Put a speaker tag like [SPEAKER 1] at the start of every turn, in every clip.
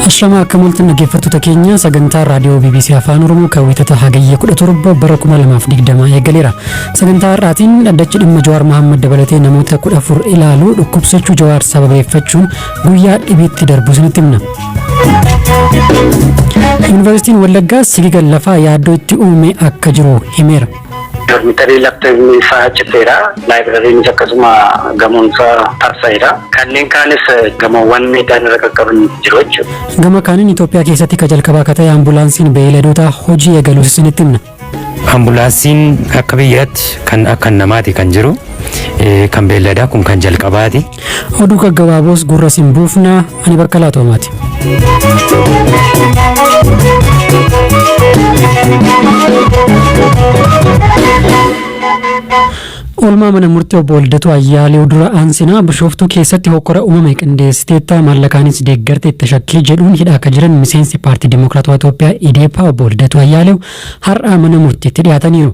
[SPEAKER 1] Ashama akka mul'atan dhaggeeffattoota keenya sagantaa raadiyoo BBC Afaan Oromoo kan wiixata hagayya 17 bara 2020 eegaleera. Sagantaa har'aatiin dhaddachi dhimma Jawaar Mohaammed dabalatee namoota 14 ilaalu dhukkubsachuu Jawaar sababeeffachuun guyyaa dhibiitti darbu isinitti himna. Yuunivarsiitiin Wallaggaa sigiga lafaa yaaddoo itti uume akka jiru himeera. Dormitarii
[SPEAKER 2] laptoopni isaa citeera. Laayibrariinis akkasuma gamoon isaa tarsa'eera. Kanneen kaanis gamoowwan miidhaan irra qaqqaban jiru jechuudha. Gama kaaniin Itoophiyaa
[SPEAKER 1] keessatti ka jalqabaa ka ta'e ambulaansiin beeyladoota hojii eegaluus isinitti himna. Ambulaansiin
[SPEAKER 3] akka biyyaatti kan akka namaati kan jiru kan beelladaa kun kan jalqabaati. Oduu gaggabaaboos
[SPEAKER 1] gurra sin buufna ani bakka laatoomaati. Oolmaa mana murtii obbo Waldatu Ayyaalew dura aansinaa bishooftuu keessatti hokkora uumame qindeessiteetta maallaqaanis deeggarte itti shakkii jedhuun hidhaa akka jiran miseensi paartii Dimookiraatawaa Itoophiyaa Ideepaa obbo Waldatu Ayyaalew har'aa mana murtiitti dhiyaataniiru.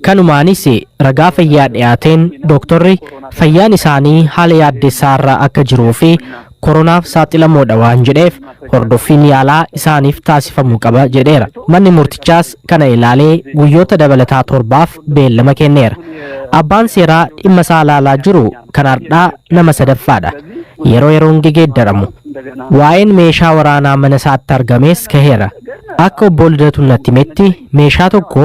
[SPEAKER 4] Kanumaanis ragaa fayyaa dhiyaateen dooktorri fayyaan isaanii haala yaaddessaa irra akka jiruu fi koronaaf saaxilamoodha waan jedheef hordoffiin yaalaa isaaniif taasifamuu qaba jedheera. Manni murtichaas kana ilaalee guyyoota dabalataa torbaaf beellama kenneera. Abbaan seeraa dhimma isaa ilaalaa jiru kan hardhaa nama sadaffaadha. Yeroo yeroon gegeeddaramu. Waa'een meeshaa waraanaa mana isaatti argamees kaheera. Akka obbo Lidatuun natti himetti meeshaa tokko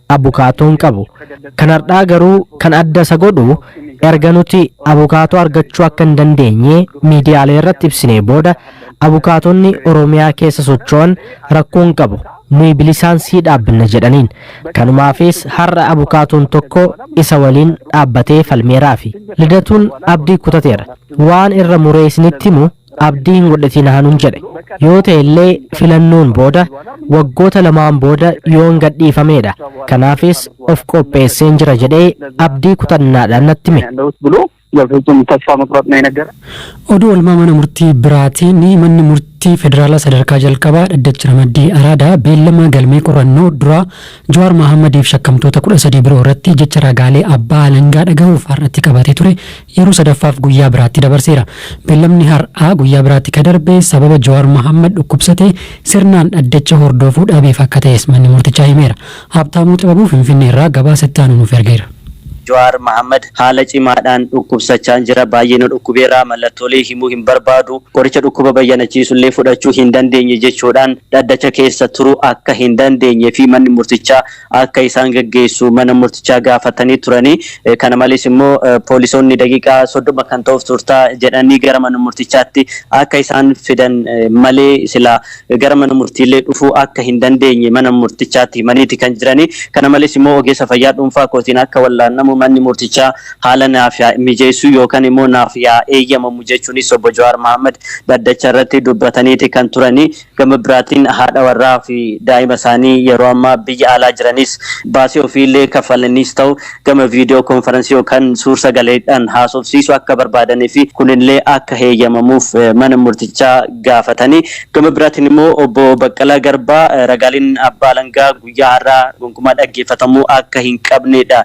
[SPEAKER 4] abukaatoo hin qabu. Kan hardhaa garuu kan adda isa godhu erga nuti abukaatoo argachuu akka hin dandeenye miidiyaalee irratti ibsinee booda abukaatonni Oromiyaa keessa socho'an rakkoo hin qabu nuyi bilisaan sii dhaabbinna jedhaniin. Kanumaafis har'a abukaatoon tokko isa waliin dhaabbatee falmeeraafi. Lidatuun abdii kutateera. Waan irra muree isinitti himu abdii hin godhatinaa nun jedhe. Yoo ta'e illee filannoon booda waggoota lamaan booda yoon gadhiifameedha. Kanaafis of qopheesseen jira jedhee abdii kutannaadhaan natti hime.
[SPEAKER 1] Oduu oolmaa mana murtii biraatiin manni murtii federaalaa sadarkaa jalqabaa dhaddachi ramaddii araadaa beellama galmee qorannoo duraa Jawaar Mahaammadiif shakkamtoota 13 biroo irratti jecha ragaalee abbaa alangaa dhagahuuf har'atti qabatee ture yeroo sadaffaaf guyyaa biraatti dabarseera. Bellamni har, aa guyyaa biraatti ka darbe sababa Jawaar Mahaammad dhukkubsate sirnaan dhaddacha hordoofuu dhabeef akka ta'es manni murtichaa himeera. Haabtaamuu Xibabuu Finfinnee irraa gabaasa itti aanu nuuf ergeera. Jawaar Mahaammad
[SPEAKER 5] haala cimaadhaan dhukkubsachaan jira. Baay'ee na dhukkubeera. Mallattoolee himuu hin barbaadu. Qoricha dhukkuba bayyanachiisu illee fudhachuu hin dandeenye jechuudhaan dhaddacha keessa turuu akka hin dandeenye fi manni murtichaa akka isaan gaggeessu mana murtichaa gaafatanii turani. Kana malees immoo poolisoonni daqiiqaa 30 kan ta'uuf turtaa jedhanii gara mana murtichaatti akka isaan fidan malee silaa gara mana murtiillee dhufuu akka hin dandeenye mana murtichaatti himaniiti kan jirani. Kana malees immoo ogeessa fayyaa dhuunfaa kootiin akka wallaannamu manni murtichaa haala naaf yaa mijeessu yookan immoo naaf yaa eeyyamamu jechuunis obbo Jawaar Mahaammad dhaddacha irratti dubbataniiti kan turani. Gama biraatiin haadha warraa fi daa'ima isaanii yeroo ammaa biyya alaa jiranis baasii ofii illee kaffalaniis ta'u gama viidiyoo konfaransii yookaan suur sagaleedhaan haasofsiisuu akka barbaadanii fi kun illee akka heeyyamamuuf mana murtichaa gaafatanii gama biraatiin immoo obbo Baqqalaa Garbaa ragaaleen abbaa alangaa guyyaa har'aa gonkumaa dhaggeeffatamuu akka hin qabneedha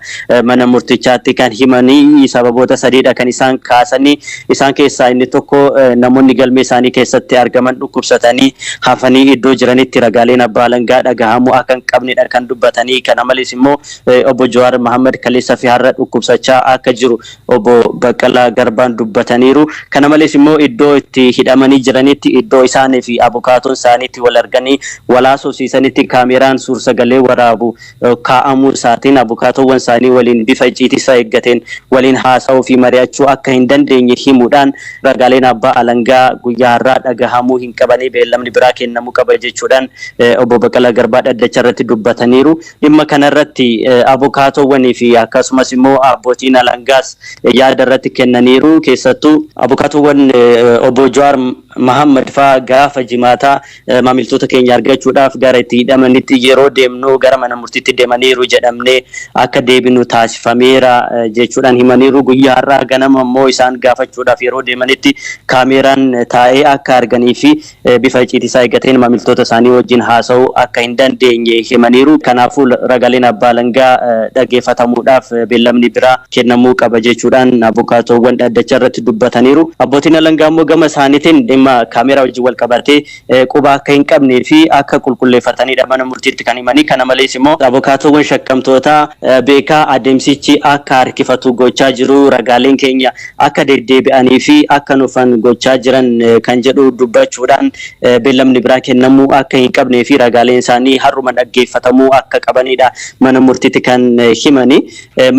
[SPEAKER 5] mana murtichaatti kan himanii sababoota sadiidha kan isaan kaasanii isaan keessaa inni tokko namoonni galmee isaanii keessatti argaman dhukkubsatanii hafanii iddoo jiranitti ragaaleen abbaa alangaa dhagahamuu akka hin qabneedha kan dubbatanii kana malees immoo obbo Jawaar Mahammad kaleessa fi har'a dhukkubsachaa akka jiru Obbo Baqqalaa Garbaan dubbataniiru. Kana malees immoo iddoo itti hidhamanii jiranitti iddoo isaanii fi abukaatoon isaanii itti wal arganii wal haasofsiisanitti kaameeraan suursagalee waraabu kaa'amuu isaatiin abukaatoowwan isaanii waliin bifa icciitii isaa eeggateen waliin haasa'uu fi mari'achuu akka hin dandeenye himuudhaan ragaaleen abbaa alangaa guyyaa har'aa dhagahamuu hin qabanii beellamni biraa kennamuu qaba jechuudhaan Obbo Baqqalaa Garbaa dhaddacha irratti dubbataniiru. Dhimma kana irratti abukaatoowwanii fi akkasumas immoo abbootiin alangaas yaada irratti kennaniiru. Keessattuu. Abukaatoowwan Obbo Jawaar Mahaammad faa gaafa Jimaataa maamiltoota keenya argachuudhaaf gara itti hidhamanitti yeroo deemnu gara mana murtiitti deemaniiru jedhamnee akka deebinu taasifameera jechuudhaan himaniiru. Guyyaa har'aa ganama immoo isaan gaafachuudhaaf yeroo deemanitti kaameeraan taa'ee akka arganii fi bifa icciitii isaa eeggateen maamiltoota isaanii wajjin haasa'uu akka hin dandeenye himaniiru. Kanaafuu ragaleen abbaa alangaa dhaggeeffatamuudhaaf beellamni biraa kennamuu qaba jechuudhaan abukaatoowwan dhaddacha irratti dubbataniiru. Abbootiin alangaa immoo gama isaaniitiin dhimma kaameeraa wajjin walqabatee quba akka hin qabnee fi akka qulqulleeffataniidha mana murtiitti kan himanii. Kana malees immoo abukaatoowwan shakkamtootaa beekaa adeemsichi akka harkifatu gochaa jiru ragaaleen keenya akka deddeebi'anii fi akka nufan gochaa jiran kan jedhu dubbachuudhaan beellamni biraa kennamuu akka hin qabnee fi ragaaleen isaanii har'uma dhaggeeffatamuu akka qabaniidha mana murtiitti kan himani.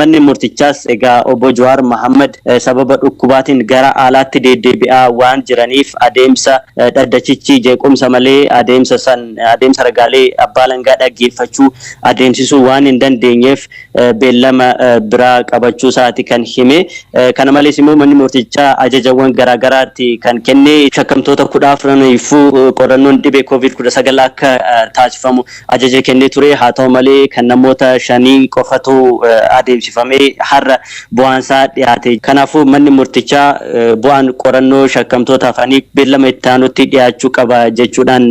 [SPEAKER 5] Manni murtichaas egaa obbo Jawaar Mahaammad sababa dhukkubaatiin gara alaatti deeddeebi'aa waan jiraniif adeemsa dhaddachichi jeequmsa malee adeemsa san adeemsa ragaalee abbaa alangaa dhaggeeffachuu adeemsisuu waan hin dandeenyeef beellama biraa qabachuu isaati kan hime. Kana malees immoo manni murtichaa ajajawwan garaa garaatti kan kenne shakkamtoota 14'niifuu qorannoon dhibee Covid 19 akka taasifamu ajaja kennee ture. Haa ta'u malee kan namoota shanii qofatu adeemsifamee har'a bu'aan isaa dhiyaate. Kanaafuu manni murtichaa bu'aan qorannoo shakkamtoota hafanii beellama itti aanutti dhiyaachuu qaba jechuudhaan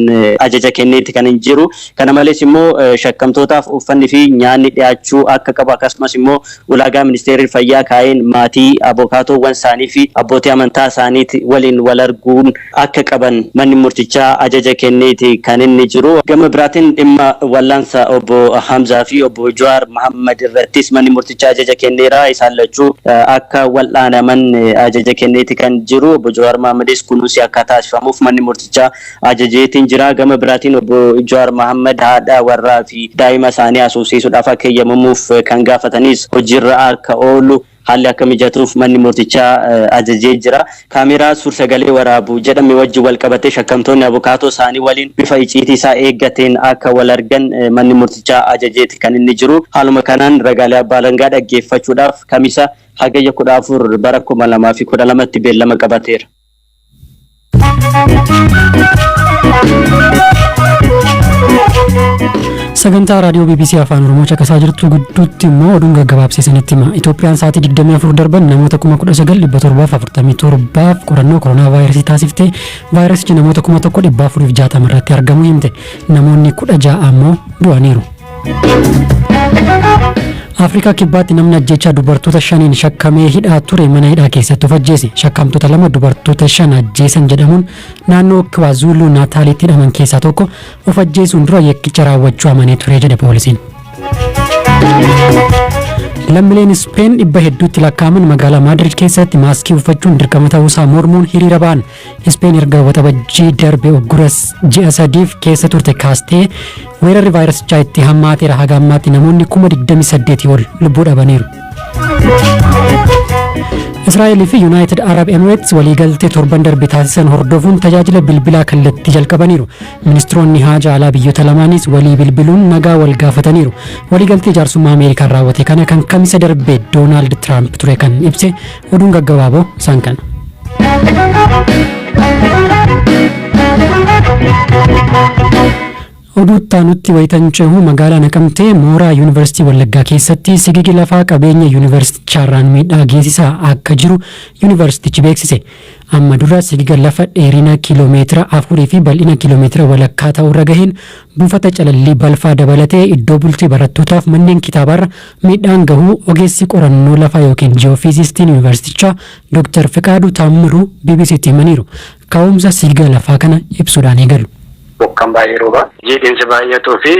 [SPEAKER 5] ajaja kenneeti kan jiru. Kana malees immoo shakkamtootaaf uffanni fi nyaanni dhiyaachuu akka qabu akkasumas immoo ulaagaa ministeerri fayyaa kaa'een maatii, abokaatoowwan isaanii fi abbootii amantaa isaaniit waliin wal arguun akka qaban manni murtichaa ajaja kenneeti kan inni jiru. Gama biraatiin dhimma wallaansa obbo Hamzaa fi obbo Jawaar Mahaammad irrattis manni murtichaa ajaja kenneera. Isaan lachuu akka wal'aanaman ajaja kenneeti kan jiru. Obbo Jawaar Mahaammadis kunuunsi akka taasifamuuf manni murtichaa ajajeetiin jira. Gama biraatiin Obbo Jawaar Mahaammad haadha warraa fi daa'ima isaanii haasofsiisuudhaaf akka eeyyamamuuf kan gaafatanis hojiirra akka oolu haalli akka mijatuuf manni murtichaa ajajee jira. Kaameeraa suursagalee waraabu jedhame wajjin walqabatee shakkamtoonni abukaatoo isaanii waliin bifa iciitii isaa eeggateen akka walargan manni murtichaa ajajeeti kan inni jiru. Haaluma kanaan ragaalee abbaa alangaa dhaggeeffachuudhaaf Kamisa Hagayya 14 bara 2012tti beellama qabateera.
[SPEAKER 1] Sagantaa raadiyoo BBC Afaan Oromoo caqasaa jirtu gidduutti immoo oduun gaggabaabsiisanitti hima. Itoophiyaan sa'aatii 24 darban namoota 19,747f qorannoo koronaa vaayirasii taasiftee vaayirasichi namoota 1,460 irratti argamu himte. Namoonni 16 ammoo du'aniiru. Afrikaa Kibbaatti namni ajjechaa dubartoota shaniin shakkamee hidhaa ture mana hidhaa keessatti of ajjeese. Shakkamtoota lama dubartoota shan ajjeesan jedhamuun naannoo Kiwaazulu Naataalitti hidhaman keessaa tokko of ajjeesuun dura yakkicha raawwachuu amanee ture jedhe poolisiin. Lammileen Ispeen dhibba hedduutti lakkaa'aman magaalaa Maadrid keessatti maaskii uffachuun dirqama ta'uusaa mormuun hiriira ba'an. Ispeen erga waxabajjii darbe uggura ji'a sadiif keessa turte kaastee weerarri vaayirasichaa itti hammaateera haga ammaatti namoonni kuma 28 ol lubbuu dhabaniiru. Israa'el fi Yuunaayitid Arab Emirates waliigaltee torban darbe taasisan hordofuun tajaajila bilbilaa kallattii jalqabaniiru. Ministiroonni haajaa alaa biyyoota lamaaniis walii bilbiluun nagaa wal gaafataniiru. Waliigaltee jaarsummaa Ameerikaan raawwate kana kan kamisa darbe Doonaald Tiraamp ture kan ibse Oduun gaggabaaboo isaan kana. Oduu itti aanutti wayitan cehu magaalaa Naqamtee mooraa Yuunivarsiitii Wallaggaa keessatti sigigi lafaa qabeenya yuunivarsiitichaarraan miidhaa geessisaa akka jiru yuunivarsiitichi beeksise. Amma dura sigiga lafa dheerina kiiloomeetira afurii fi bal'ina kiiloomeetira walakkaa ta'urra gaheen Buufata Calallii Balfaa dabalatee iddoo bultii barattootaaf manneen kitaabaarra miidhaan gahuu ogeessi qorannoo lafaa ykn Ji'oofiizistiin Yuunivarsiitichaa Doktar Fiqaaduu Taammiruu BBC'tti himaniiru. Ka'umsa siigaa lafaa kana ibsuudhaan eegalu. Bokkaan
[SPEAKER 2] baay'ee rooba, jiidhinsi baay'atuu fi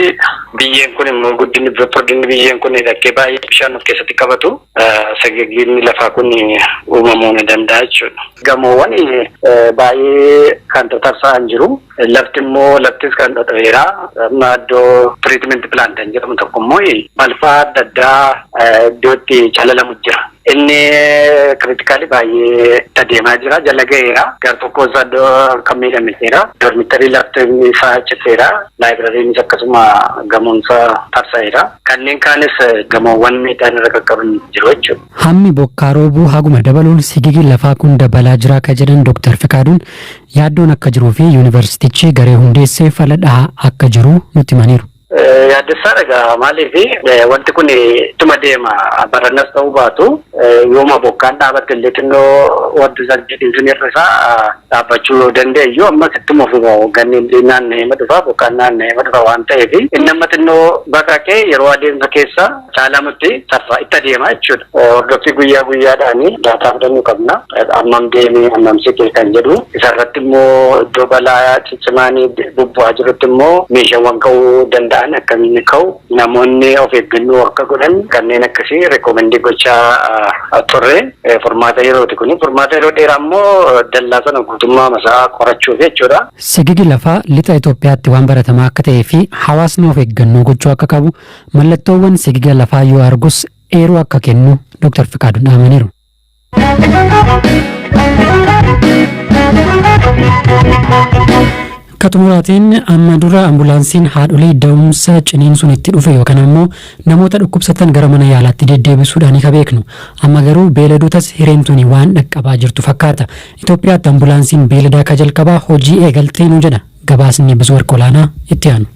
[SPEAKER 2] biyyeen kun immoo guddinni furdinni biyyeen kun dhakkee baay'ee bishaan of keessatti qabatu sagagiinni lafaa kun uumamuu ni danda'a jechuudha. Gamoowwan baay'ee kan tatarsa'an jiru. Lafti immoo laftis kan dhodho'eera. Amma iddoo tiriitimenti pilaant kan jedhamu tokko immoo balfaa adda addaa iddoo itti calalamu jira. Inni kiritikaalii baay'ee itti adeemaa jira. Jala ga'eera. Gar tokkoo isaa iddoo kan miidhame jira. Dormitarii lafti isaa citeera. Laayibrariinis akkasuma gamoon isaa tarsa'eera. Kanneen kaanis gamoowwan miidhaan irra qaqqaban jiru jechuudha. Hammi bokkaa
[SPEAKER 1] roobuu haguma dabaluun sigigi lafaa kun dabalaa jira akka jedhan Dooktar Fiqaaduun, Yaaddoon akka jiruu fi Yuunivarsiitichi garee hundeessee fala dhahaa akka jiru nutti himaniiru. Yaaddessaadha
[SPEAKER 2] egaa maaliif wanti kun ittuma deema barannas ta'uu baatu yooma bokkaan dhaabatte illee xinnoo wanti sangeetiin sun hir'isaa dhaabbachuu yoo danda'e iyyuu ammas ittuma fuma hoogganni illee naanna'eema dhufa bokkaan naanna'eema dhufa waan ta'eef inni amma xinnoo baqaqee yeroo adeemsa keessa caalamutti saffa itti adeema jechuudha. Hordoffii guyyaa guyyaadhaan daataa fudhannu qabna. Ammam deemee ammam siqee kan jedhu isarratti immoo iddoo balaa ciccimaan bubbu'aa jirutti immoo meeshaawwan ka'uu danda'an akkamiin ka'u namoonni of eeggannoo akka godhan kanneen akkasii reekoomendii gochaa turre furmaata yerooti kun furmaata yeroo dheeraa immoo dallaa sana guutummaa masaa qorachuuf jechuudha. Sigigi lafaa
[SPEAKER 1] lixa Itoophiyaatti waan baratamaa akka ta'ee fi hawaasni of eeggannoo gochuu akka qabu Mallattoowwan sigiga lafaa yoo argus eeruu akka kennu Doktar Fiqaaduun dhaamaniiru. Akka xumuraatiin amma dura ambulaansiin haadholii da'umsa ciniinsuun itti dhufe yookaan ammoo namoota dhukkubsatan gara mana yaalaatti deddeebisuudhaan ka beeknu. Amma garuu beeladotas hireen tuni waan dhaqqabaa jirtu fakkaata. Itoophiyaatti ambulaansiin beeladaa ka jalqabaa hojii eegaltee nu jedha. Gabaasni Buzwarq Olaanaa itti aanu.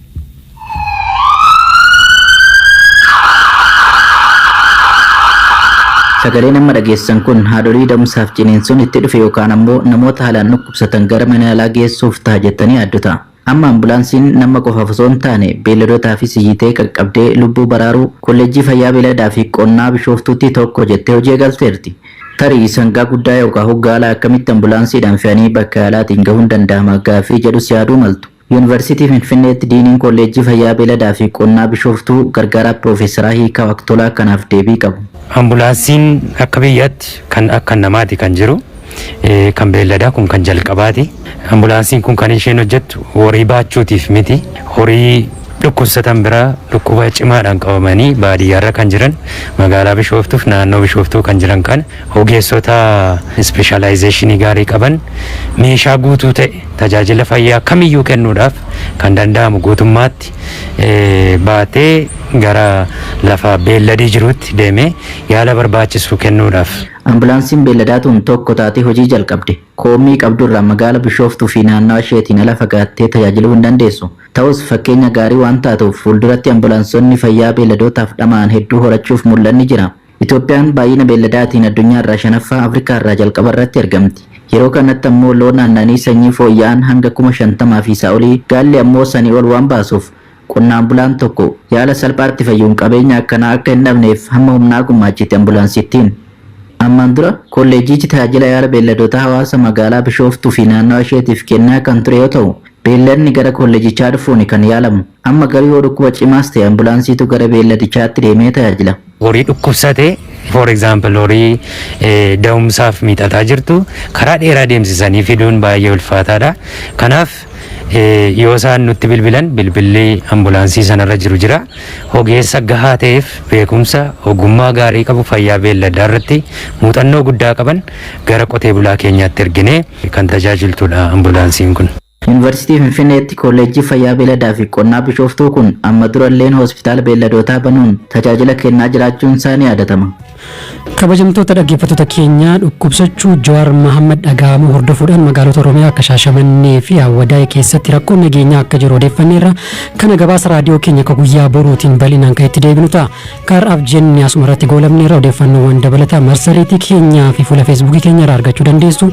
[SPEAKER 6] Sagaleen amma dhageessan kun haadholii da'umsaaf ciniinsuun itti dhufe yookaan ammoo namoota haalaan dhukkubsatan gara mana yaalaa geessuuf ta'a jettanii yaaddu ta'a. Amma ambulaansiin nama qofaaf osoo hin taane beelladotaafis iyyitee qaqqabdee lubbuu baraaruu Kolleejjii Fayyaa Beelladaa fi Qonnaa Bishooftuutti tokko jettee hojii eegalteerti. Tarii sangaa guddaa yookaa hoggaalaa akkamitti ambulaansiidhaan fe'anii bakka yaalaatiin gahuun danda'ama gaaffii jedhus yaaduu maltu. Yuunivarsiitii Finfinneetti Diiniin Kolleejjii Fayyaa Beeladaa fi Qonnaa Bishooftuu Gargaaraa Piroofeesaraa Hiikaaw Aktolaa kanaaf deebii qabu. Ambulaansiin
[SPEAKER 3] akka biyyaatti kan akka namaati kan jiru. Kan beelladaa kun kan jalqabaati. Ambulaansiin kun kan isheen hojjettu horii baachuutiif miti. Horii dhukkubsatan bira dhukkuba cimaadhaan qabamanii baadiyyaarra kan jiran magaalaa Bishooftuuf naannoo Bishooftuu kan jiran kana ogeessota ispeeshaalaayizeeshinii gaarii qaban meeshaa guutuu ta'e tajaajila fayyaa kamiyyuu kennuudhaaf kan danda'amu guutummaatti baatee gara lafa beelladii jiruutti deemee yaala barbaachisu kennuudhaaf. Ambulaansiin beelladaa
[SPEAKER 6] tun tokko taatee hojii jalqabde. Koommii qabdu irraa magaala Bishooftuu fi naannawa isheetiin ala fagaattee tajaajiluu hin dandeessu. Ta'us, fakkeenya gaarii waan taatuuf, fuulduratti ambulaansonni fayyaa beelladootaaf dhama'an hedduu horachuuf mul'anni jira. Itoophiyaan baay'ina beelladaatiin addunyaa irraa shanaffaa, Afrikaa irraa jalqaba irratti argamti. Yeroo kanatti ammoo loon aannanii sanyii fooyya'an hanga kuma 50 fi isaa olii, gaalli ammoo sanii ol waan baasuuf, Qonnaan bulaan tokko yaala salphaatti fayyuun qabeenya akkanaa akka hin dhabneef hamma humnaa gummaachiti Ambulaansittiin. Ammaan dura Kolleejjiichi tajaajila yaala beelladootaa hawaasa magaalaa Bishooftuu fi naannawa isheetiif kennaa kan ture yoo ta'u, beelladni gara kolleejjichaa dhufuuni kan yaalamu. Amma garuu yoo dhukkuba cimaas ta'e Ambulaansiitu gara beelladichaatti deemee tajaajila. Horii dhukkubsate
[SPEAKER 3] for example horii da'umsaaf miixataa jirtu karaa dheeraa deemsisanii fiduun baay'ee ulfaataadha. Kanaaf yoo isaan nutti bilbilan bilbilli ambulaansii sanarra jiru jira. Ogeessa gahaa ta'eef beekumsa ogummaa gaarii qabu fayyaa beelladaa irratti muuxannoo guddaa qaban gara qotee bulaa keenyaatti erginee kan tajaajiltudha ambulaansiin kun. Yunivarsiitii Finfinneetti
[SPEAKER 6] Koolleejjii Fayyaa Beeladaa fi Qonnaa Bishooftuu kun amma dura illeen Hospitaala Beelladootaa banuun tajaajila kennaa jiraachuun isaa ni yaadatama. Kabajamtoota
[SPEAKER 1] dhaggeeffattoota keenyaa dhukkubsachuu Jawaar Mahaammad dhagahamuu hordofuudhaan magaalota Oromiyaa akka Shaashamannee fi Awwadaay keessatti rakkoon nageenyaa akka jiru odeeffanneerra. Kana gabaasa raadiyoo keenya ka guyyaa boruutiin bal'inaan kan itti deebinu ta'a. Ka har'aaf jenne asuma irratti goolabneerra odeeffannoowwan dabalataa marsariitii keenyaa fi fuula feesbuukii keenya irraa argachuu dandeessu.